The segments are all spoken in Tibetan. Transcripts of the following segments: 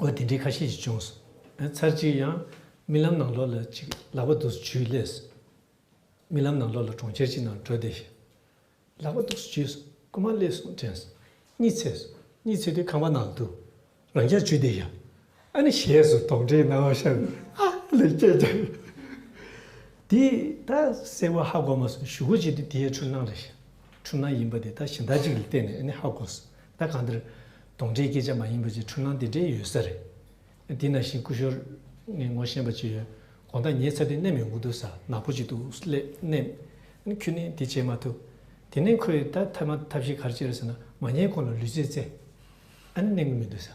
འོ་དེ་འདྲའི་ཁ་ཤས་ཤིག་བྱུང། ཚར་གཅིག་ཡང་རྨི་ལམ་ནང་ལོགས་ལ་ཅིག་ལག་པ་དུགས་སུ་བྱུས་ལས། རྨི་ལམ་ནང་ལོགས་ལ་གྲོང་ཁྱེར་གཅིག་ནང་བྲོས་བསྡད། ལག་པ་དུགས་སུ་བྱུས་སོང་རྐུ་མ་སླེབས་སོང་དྲན་སོང་གཉིད་ཚད་སོང་གཉིད་ཚད་དུས་ཁང་པ་ནང་དུ་རང་རྐྱ་བྱུས་བསྡད། ཨ་ནི་ཞེས་སུ་དོགས་འདྲིའི་སྣང་བ་ཤར་ནས་ཨ་ལེ་ཀྱེ་ཀྱེ། དེ་ད་གསལ་བོ་ཧ་གོ་མ་སོང་ཞུ་གུ་བྱས་དུས་དེའི་འཁྲུལ་སྣང་རེད། འཁྲུལ་སྣང་ཡིན་པ་དེ་ད་ཞེ་འདག་ཅིག་ལ་བལྟས་ནས་ཨ་ནི་ཧ་གོ་སོང། ད་ག་འདིར་དོང་འདྲའི་སྐད་ཆ་མ་ཡིན་པ་ཅིག་འཁྲུལ་སྣང་དེ་འདྲའི་ཡོད་ས་རེད། འདི་ན་བཞིན་སྐུ་ཞོར་ངས་ངོ་ཤེས་པ་ཅིག་ཡོད། དགོངས་དག་ཉེས་ཚབ་དེ་གནད་མི་འོང་དུ་ས་ནག་པོ་ཅིག་ཏུ་སླེབས། ཁྱོད་ནི་དེ་བྱེད་མ་ཐུབ། དེ་ནས་ཁོས་ད་ཐབས་མ་ཐབས་ཤིག་གར་བྱེད་རེད་ཟེར་ན་མ་ཉེས་ཁོ་ལ་ལུས་རྩེད་རྩེ། ཨ་ནི་གནད་འགུལ་མི་འདུག་ས།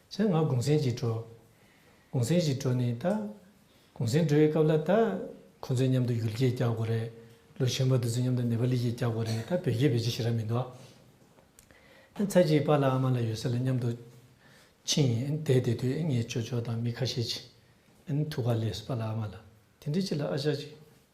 ཚེ་ང་གུང་སེང་གཅིག་འགྲོ། གུང་སེང་ཞིག་འགྲོ་ནི་ད། གུང་སེང་འགྲོ་བའི་སྐབས་ལ་ད། ཁོང་ཚོའི་མཉམ་དུ་ཡུལ་སྐད་རྒྱག་དགོས་རེད། ལོ་གཞོན་པ་དེ་ཚོའི་མཉམ་དུ་ནེ་པ་ལི་སྐད་རྒྱག་དགོས་རེད་ད་བོད་སྐད་བེད་སྤྱོད་བྱེད་ར་མི་འདུག། ཚེ་གཅིག་པ་ལ་ཨ་མ་ལ་ཡོད་ས་ལ་མཉམ་དུ། ཕྱིན། བསྡད་བསྡད་དུས་ངས་ཅོ་ཅོ་དང་མི་ཁ་ཤས་ཀྱིས། ཐུགས་ཀ་ལས་སུ་པ་ལ་ཨ་མ་ལ། དེ་འདྲའི་ཆེད་ལ་ཨ་ཅག་ཅིག།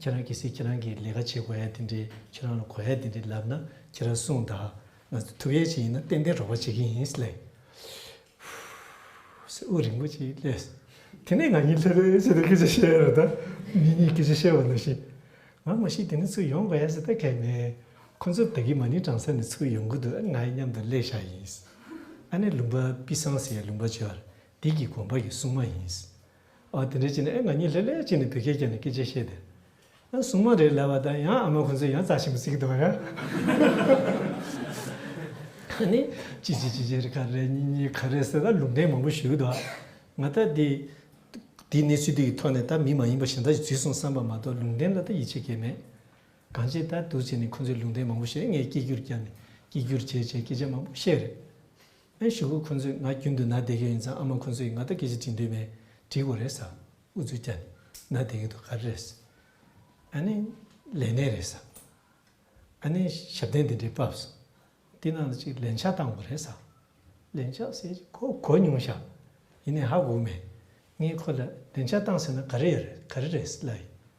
ཁྱེད་རང་གིས་ཁྱེད་རང་གི་ལས་ཀ་བྱེད་དགོས་ཡ་དེ་འདྲའི་ཁྱེད་རང་ལ་གོ་ཡ་དེ་འདྲའི་ལབ་ན་ཁྱེད་རང་གསུངས་དང་ང་ཚོ་ཐུབ་ཡ་ཅིག་ཡིན་ན་ཏན་ཏན་རོགས་པ་བྱེད་ཀྱི་ཡིན་ལེ། ཧྥུ། རིན་པོ་ཆེའི་ལས། དེ་ནས་ང་གཉིས་ལྷོད་ལྷོད་བྱས་ཏེ་སྐད་ཆ་བཤད་རོགས་དང་མི་གཉིས་སྐད་ཆ་བཤད་པ་ནང་བཞིན། ང་མ་ཤི་དེ་ནས་ཚུར་ཡོང་དགོས་ཡ་ཟེར་ད་གལ་མེད། ཁོ་ཚོར་བདག་གིས་མ་ནིང་བྲང་ས་ནས་ཚུར་ཡོང་གི་འདུག་ང་ཡི་མཉམ་དུ་ལས་བཞག་ཡིན། ཨ་ནེ་ལུང་པ་པི་སངས་ཟེར་ཡ་ལུང་པ་བྱོར་འདི་གི་དགོན་པ་གི་སྲུང་མ་ཡིན། ཨ་དེ་འདྲའི་ཅི་ནས་ཨེ་ང་གཉིད་ལྷེ་ལྷེ་བྱས་ནས་བོད་སྐད་རྒྱབ་ནས་སྐད་ཆ་བཤད་དེ། ཨ་སྲུང་མ་རེད་ལབ་པ་དང་ཡང་ཨ་མ་ཁོང་ཚོས་ཡང་རྩ་ཆེན་པོ་བརྩིགས་འདུག་ཨ་ནི་ཅི་ཅི་ཅི་ཅི་རེད་ག་རེ་རེད་གཉིས་གཉིས་ག་རེ་ཟེར་ད་ལུང་བསྟན་མང་པོ་ཞུས་འདུག་ང་ད་དེ་དེ་གནས་ཚུལ་དེ་ཡི་ཐོག་ནས་ད་མི་མ་ཡིན་པ་གཞན་དག་ཅིག་བརྫུས་སོང་བསམ་པ་མ་གཏོགས་ལུང་བསྟན་ལ་ད་ཡིད་ཆེས་སྐལ་མེད། གང་ཅིའི་ད་དུ་བྱས་ནས་ཁོང་ཚོས་ལུང་བསྟན་མང་པོ་བཤད་ངས་སྐད་སྒྱུར་བརྒྱབ་ནས་སྐད་སྒྱུར་བྱས་བྱས་སྐད་ཆ་མང་པོ་བཤད་རེད། ཨེ་ཞེ་ཧུད་ཁོང་ཚོས་ང་རྒྱུན་དུ་ན་བསྡད་ཀྱི་ཡིན་ཙང་ཨ་མ་ཁོང་ཚོས་ང་ལྟ་སྐད་ཅིག་བྲིས་འདོད་མེད་བྲིས་དགོས་རེད་ས་འུ་ཚོས་ཀྱ་ནི་ན་བསྡད་ཀྱི་འདུག་ག་རེ་རེད་ས་ཨ་ནི་ལས་གནས་རེད་ས་ཨ་ནི་ཞབས་བརྟན་འདི་འདྲའི་བབས་ས་འདི་ནང་དུ་ཅིག་ལན་ཆགས་བཏང་དགོས་རེད་ས་ལན་ཆགས་ཟེར་ཅིག་ཁོ་གོ་མྱོང་ཤག་ཡིན་ནའི་ཧ་གོ་མེད་ངས་ཁོ་ལ་ལན་ཆགས་བཏང་ཟེར་ན་ག་རེ་ཡ་རེད་ག་རེ་རེད་ལ་ཡིན།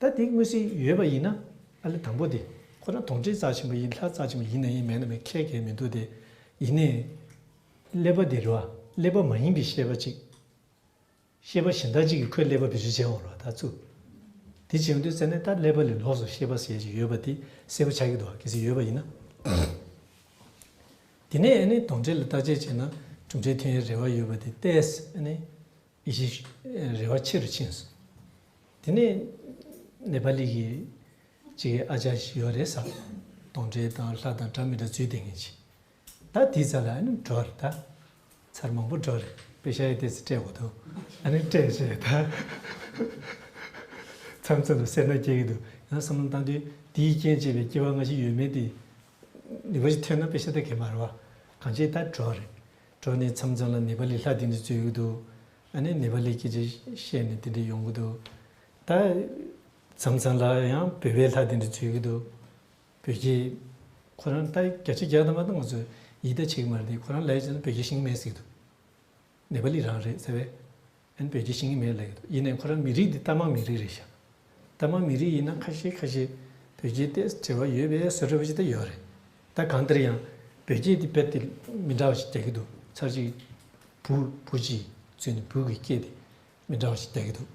ད་དེ་དངོས་གཟིགས་ཡོད་པ་ཡིན་ན་ཨ་ལེ་དང་པོ་དེ་ཁོ་རང་དོང་ཁྲིད་རྩ་ཆེན་པོ་ཡིན་ལྷ་རྩ་ཆེན་པོ་ཡིན་ནའི་མེད་ན་མེད་ཁྱད་གས་མི་འདུག་དེ་ཡིན་ནའི་ཀླད་པ་དེ་རུ་ཨ་ཀླད་པ་མ་ཡིན་པའི་ཤེས་པ་ཅིག་ཤེས་པ་གཞན་དག་ཅིག་གིས་ཁོའི་ཀླད་པ་བེད་སྤྱོད་བྱས་འོང་རོགས་ད་ཙུ། དེ་བྱས་འོང་དུས་ཟེར་ནས་ད་ཀླད་པ་ལས་ལོགས་སུ་ཤེས་པ་ཟེར་ཅིག་ཡོད་པ་དེ་གསལ་པོ་ཆགས་ཀྱི་འདུག་གལ་སྲིད་ཡོད་པ་ཡིན་ན། དེ་ནས་ཨ་ནི་དོང་ཁྲིད་ལ་བརྟག་དཔྱད་བྱས་ན་གྲུབ་འབྲས་ཐོན་ཡའི་རེ་བ་ཡོད་པ་དེ་ཏས་ཨ་ནི་ཡེ་ཤེས་རལ་བ་ཆེ་རུ་ཕྱིན་སོང། དེ་ནས་ནེ་པ་ལི་གི་གཅིག་ཨ་ཅར་ཞིག་ཡོད་རེད་བསམ། དོང་འདྲེ་དང་ལྷ་དང་དྲ་མི་དྲ་ཚུལ་ལྡན་མཁན་ཞིག། ད་དེའི་རྩ་ལ་ཨ་ནི་འགྲོ་རེད་ད། ཚར་མང་པོ་འགྲོ་རེད་པེ་ཤ་ཡེ་དེ་ཚོ་སྤྲད་དགོས་འདུག་ཨ་ནི་སྤྲད་ཤེས་རེད་ད། མཚམས་མཚམས་ལ་སེར་སྣ་སྐྱེ་གི་འདུག་ཡང་བསམ་བློ་བཏང་དུས་དེའི་རྐྱེན་བྱས་པའི་སྐྱེ་བ་སྔ་ཕྱི་ཡོད་མེད་དེ། ནེ་པ་ལི་ཐོན་ན་པེ་ཤ་ད་གས་མ་རེད་བ། གང་བྱས་ད་འགྲོ་རེད། གྲོ་ནས་མཚམས་མཚམས་ལ་ནེ་པ་ལི་ལྷ་དེ་འདྲའི་ཚོད་ཡོད་དོ། ཨ་ནེ་ནེ་པ་ལི་སྐད་ཆ་བཤད་ནས་དེ་འདྲའི་ཡོང་གི་འདུག་ད། མཚམས་མཚམས་ལ་ཡང་བོད་པའི་ལྷ་དེ་འདྲའི་ཚོད་ཡོད་གི་འདུག་བོད་རྒྱའི། ཁོ་རང་ལྟ་བརྒྱ་ཆ་བརྒྱ་ད་མ་ད་ང་ཚོས་ཡིད་ལྟ་བྱེད་ཀྱི་མ་རེད་དེ་ཁོ་རང་ལས་བྱས་ན་བོད་རྒྱ་ཞིང་མེད་ཟིག་འདུག། ནེ་པ་ལི་རང་རེད་ཟེར་བས། ཨན་བོད་ཀྱི་ཤིང་ཡིན་མེད་ལ་ཡོད་དོ་ཡིན་ནའི་ཁོ་རང་མི་རིགས་འདི་རྟ་མང་མི་རིགས་རེད་བཞག་རྟ་མང་མི་རིགས་ཡིན་ན་ཁ་ཤས་ཁ་ཤས་བོད་རྒྱའི་ལྟས་བྲལ་བ་ཡོད་པས་ཟེར་རོ་བཞི་དེ་ཡོད་རེད་ད་གང་ལྟར་ཡང་བོད་རྒྱའི་འདི་བེད་དེ་མི་འདྲ་བ་ཞིག་རྒྱག་གི་འདུག་ཚར་གཅིག་བུ་བུ་གཅིག་བཙུན་ནས་བུ་གི་སྐྱེས་དེ་མི་འདྲ་བ་ཞིག་རྒྱག་གི་འདུག་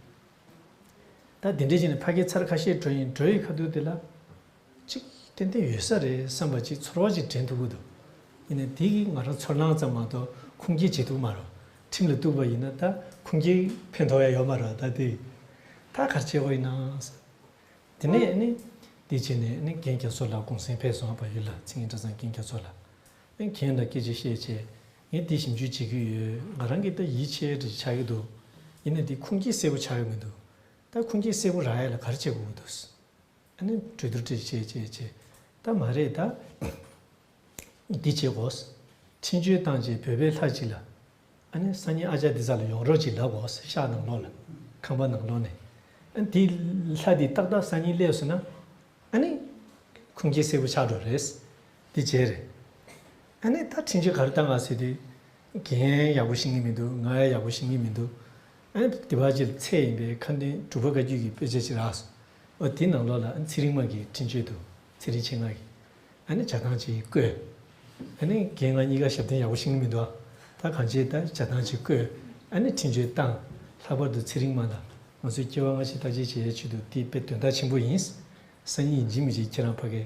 ད་འདི་འདྲས་ཤིག་ནས་ཕ་སྐད་ཚར་ཁ་ཤས་བྲོ་ཡིན་བྲོ་ཡི་ཁ་ཐུག་དེ་ལ་ཅིག་ཏན་ཏན་ཡོད་ས་རེད་བསམ་པ་ཅིག་ཚོར་བ་ཅིག་དྲན་ཐུབ་ཀྱི་འདུག་ཡིན་ནའི་དེ་གིས་ང་རང་ཚོར་སྣང་ཙམ་མ་གཏོགས་ཁུངས་སྐྱེལ་བྱེད་ཐུབ་མ་རོགས་ཁྲིམས་ལ་གཏུགས་པ་ཡིན་ན་ད་ཁུངས་སྐྱེལ་ཕན་ཐོག་ཡ་ཡོད་མ་རོགས་ད་དེ་ད་གར་བྱེད་དགོས་ཡིན་ན་དེ་ནས་ནི་དེ་བྱས་ནས་ནི་རྒན་རྒྱ་མཚོ་ལགས་གུང་སེང་ཕེབས་སོང་བ་ཡོད་ལ་ཚིག་ངན་སྒྲ་ཚང་རྒན་རྒྱ་མཚོ་ལགས་ཨེ་གན་ལ་སྐད་ཆ་བཤད་ཆེ་ངས་དེ་ཞིབ་འཇུག་བྱེད་ཀྱི་ཡོད་ང་རང་གིས་ད་ཡིད་ཆེས་ཅིག་ཆགས་ཀྱི་འདུག་ཡིན་ནའི་དེ་ཁུངས་སྐྱེལ་གསལ་པོ་ཆགས་ཡོད་མི་འདུག་ད་ཁུངས་སྐྱེལ་གསལ་པོ་རག་ཡ་ལ་གར་བྱེད་དགོས་ཀྱི་འདུག། ནི་གྲོས་བསྡུར་བྱས་བྱས་བྱས་བྱས་ད་མ་རེད་ད། འདི་བྱེད་དགོས། འཕྲིན་བཅོལ་བཏང་རྗེས་བོད་པའི་ལྷ་ཅིག་ལ། ཨ་ནི་སང་ཉིན་ཨ་ཅག་འདི་ས་ལ་ཡོང་རོགས་ཅིག་ལབ་དགོས་ཤག་ནང་ལོགས་ལ། ཁང་པ་ནང་ལོགས་ནས། ཨ་འདི་ལྷ་འདི་ཏག་ཏག་སང་ཉིན་སླེབས་སོང་ན། ཨ་ནི། ཁུངས་སྐྱེལ་གསལ་པོ་ཆགས་འགྲོ་རེད། འདི་བྱས་རེད། ཨ་ནི་ད་འཕྲིན་བཅོལ་ག་རེ་བཏང་ག་ཟེར་དུས། གན་ཡག་པོ་ཤེས་ངེས་མི་འདུག་ང་ཡག་པོ་ཤེས་ངེས་མི་འདུག། ཨ་ནི་དེ་བར་ཆེད་ལས་ཚད་ཡིན་པས་ཁ་འདོན་གྲུབ་པ་བཀའ་བརྒྱུད་ཀྱི་དཔེ་ཆ་ཅིག་རགས་སོ། འོ་དེའི་ནང་ལོགས་ལ་ཚེ་རིང་མ་གིས་འཕྲིན་བཅོལ་དུ་ཚེ་རིང་ཆེ་ངག་གིས་ཨ་ནི་བྱ་བཏང་ཅིག་བསྐོས། ཨ་ནི་རྒན་ང་གཉིས་ཀ་ཞབས་བརྟན་ཡག་པོ་ཤིང་ནི་མི་འདུག་ད་གང་བྱེད་ད་བྱ་བཏང་ཅིག་བསྐོས་ཨ་ནི་འཕྲིན་བཅོལ་བཏང། ལྷག་པར་དུ་ཚེ་རིང་མ་ལ་ང་ཚོའི་སྐྱེ་བ་སྔ་ཕྱི་བརྟག་དཔྱད་བྱེད་ཡའི་ཆེད་དུ་དེ་དཔེ་དོན་དག་ཆེན་པོ་ཡིན། སང་ཉིན་འཇིགས་མི་འཇིགས་ཁྱེད་རང་ཕ་གས།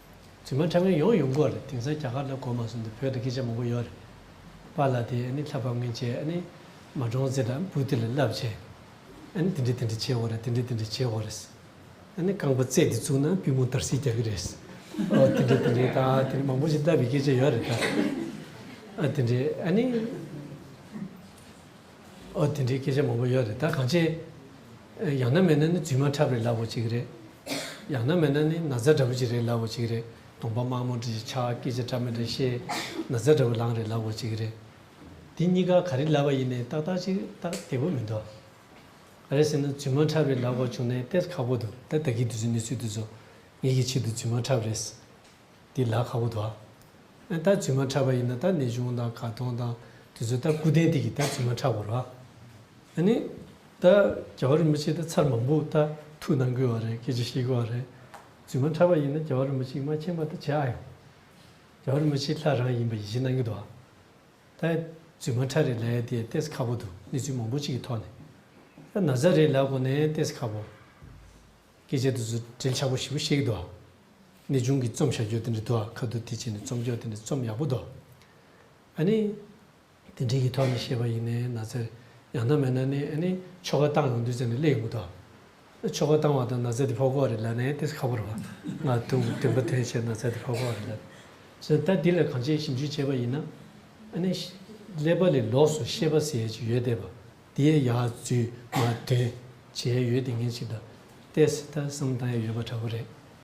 རྫུན་མ་ཁྲ་ངན་ཡོང་ཡོང་གོ་རེད་དེང་སང་རྒྱ་གར་ལ་གོ་མ་སོང་དུ་བོད་དུ་སྐད་ཆ་མང་པོ་ཡོག་རེད་པ་ལ་དེ་ཨ་ནི་ལྷ་བབ་ངན་བྱས་ཨ་ནི་མ་འབྲོང་རྩེ་དང་སྤུ་ཏི་ལ་རླབས་བྱས་ཨ་ནི་དེ་འདྲི་དེ་འདྲི་བྱས་འོ་རེད་དེ་འདྲི་དེ་འདྲི་བྱས་འོ་རེད་ཨ་ནི་རྐང་པ་རྩེ་དེ་བཙུགས་ན་པུས་མོ་དར་སིག་རྒྱག་གི་རེད་ཨོ་དེ་འདྲི་དེ་འདྲི་ད་དེ་འདྲི་མང་པོ་ཞིག་ལྟ་བའི་སྐད་ཆ་ཡོག་རེད་ད་ཨ་དེ་འདྲི་ཨ་ནི། ཨོ་དེ་འདྲའི་སྐད་ཆ་མང་པོ་ཡོད་རེད་ད་གང་ཆེ། ཡང་ན་མེད་ན་ནི་རྫུན་མ་འཁྲབ་རེད་ལབ་བོ་བྱེད་ཀྱི་རེད། ཡང་ན་མེད་ན་ནི་ན་བཟའ་འདྲ་པོ་ཅིག་རེད་ལབ་བོ་བྱེད་ཀྱི་རེད་གདོང་པ་དམར་མོ་འདྲ་ཞིག་ཆགས་སྐད་ཆ་འདྲ་མི་འདྲ་བཤད། ན་བཟའ་འདྲ་པོ་ལངས་རེད་ལབ་བོ་བྱེད་ཀྱི་རེད། འདི་གཉིས་ཀ་ག་རེ་ལབ་པ་ཡིན་ནས་ཏག་ཏག་ཅིག་ཏག་བདེ་པོ་མི་འདུག། ག་རེ་ཟེར་ན་རྫུན་མ་འཁྲབ་རེད་ལབ་དགོས་བྱུང་ནས་དེར་ཁག་པོ་འདུག་ད་བདག་གིས་འདི་ཚོའི་གནས་ཚུལ་འདི་ཚོ་ངེད་ཀྱི་ཆེད་དུ་རྫུན་མ་འཁྲབ་རེད། འདི་ལ་ཁ་བོ་དོ། ད་བཙུན་མ་འཁྲབ་པ་ཡིན་ན་ད་ནི་གཞུང་དང་གར་སྟོང་དང་དེ་ཚོ་ད་སྐུ་རྟེན་དེ་གིས་ད་བཙུན་མ་འཁྲབ་བར་བ། ཨ་ནི། ད་རྒྱལ་བ་རིན་པོ་ཆེ་ད་ཚར་མང་པོ་ད་ཐུགས་གནང་དགོས་བ་རེད་སྐད་ཆ་བཤད་དགོས་བ་རེད། བཙུན་མ་འཁྲབ་པ་ཡིན་ན་རྒྱལ་བ་རིན་པོ་ཆེ་མ་མཁྱེན་པ་ད་བྱེད་ཨ་ཡོང། རྒྱལ་བ་རིན་པོ་ཆེ་ལྷ་རང་ཡིན་པ་ཡིད་ཆེས་གནང་གི་འདུག་ཨ། ད་བཙུན་མ་འཁྲབ་རེ་ལ་ཡ་དེ་ལྟས་ས་ཁ་བོ་འདུག་གནས་ཚུལ་མང་པོ་གཅིག་གི་ཐོག་ནས། ད་ན་བཟའ་རེ་ལ་གོ་ནས་ལྟས་ས་ཁ་བོ། སྐད་ཆའི་དུས་སུ་དྲིལ་ཆགས་པོ་ཞིག་པོ་ཤེས་ཀྱི་འདུག་ཨ། ནི་ཆུང་གི་རྩོམ་བྱ་སྤྱོད་དེ་འདྲ་འདུག་ཨ་ཁ་དུ་དེ་བྱས་ནས་རྩོམ་སྐྱོར་དེ་འདྲ་རྩོམ་ཡག་པོ་འདུག་ཨ་ནི། དེ་འདྲའི་གི་ཐོག་ནས་བཤད་པ་ཡིན་ནས་ན་ཚེར་ཡང་ན་མེད་ན་ནི་ཨ་ནི་ཆོ་ག་བཏང་ཡོང་དུས་ཚེ་ནི་སླེ་ཡོང་གི་འདུག་ཨ་ཆོ་ག་བཏང་བ་དང་ན་ཚེ་དེ་ཕོ་ཁོག་རེད་ལབ་ནས་དེ་སུ་ཁ་པོར་བ་ང་དུང་གི་དུད་འགྲོ་དེ་བྱས་ན་ཚེ་དེ་ཕོ་ཁོག་རེད་ལབ་བཞིན་ད་འདི་ལ་གང་ཅིའི་ཞིབ་འཇུག་བྱས་པ་ཡིན་ན་ཨ་ནི། ཀླད་པ་ལས་ལོགས་སུ་ཤེས་པ་ཟེར་ཡས་ཅིག་ཡོད་དེ་བ། དེའི་ཡ་བཙུན་མ་དོན་བྱས་ཡོད་དེ་ངེད་ཅིག་དང་ཏེ་སི་ཏ་སུམ་བཏང་ཡོད་པ་འདྲ་བོ་རེད།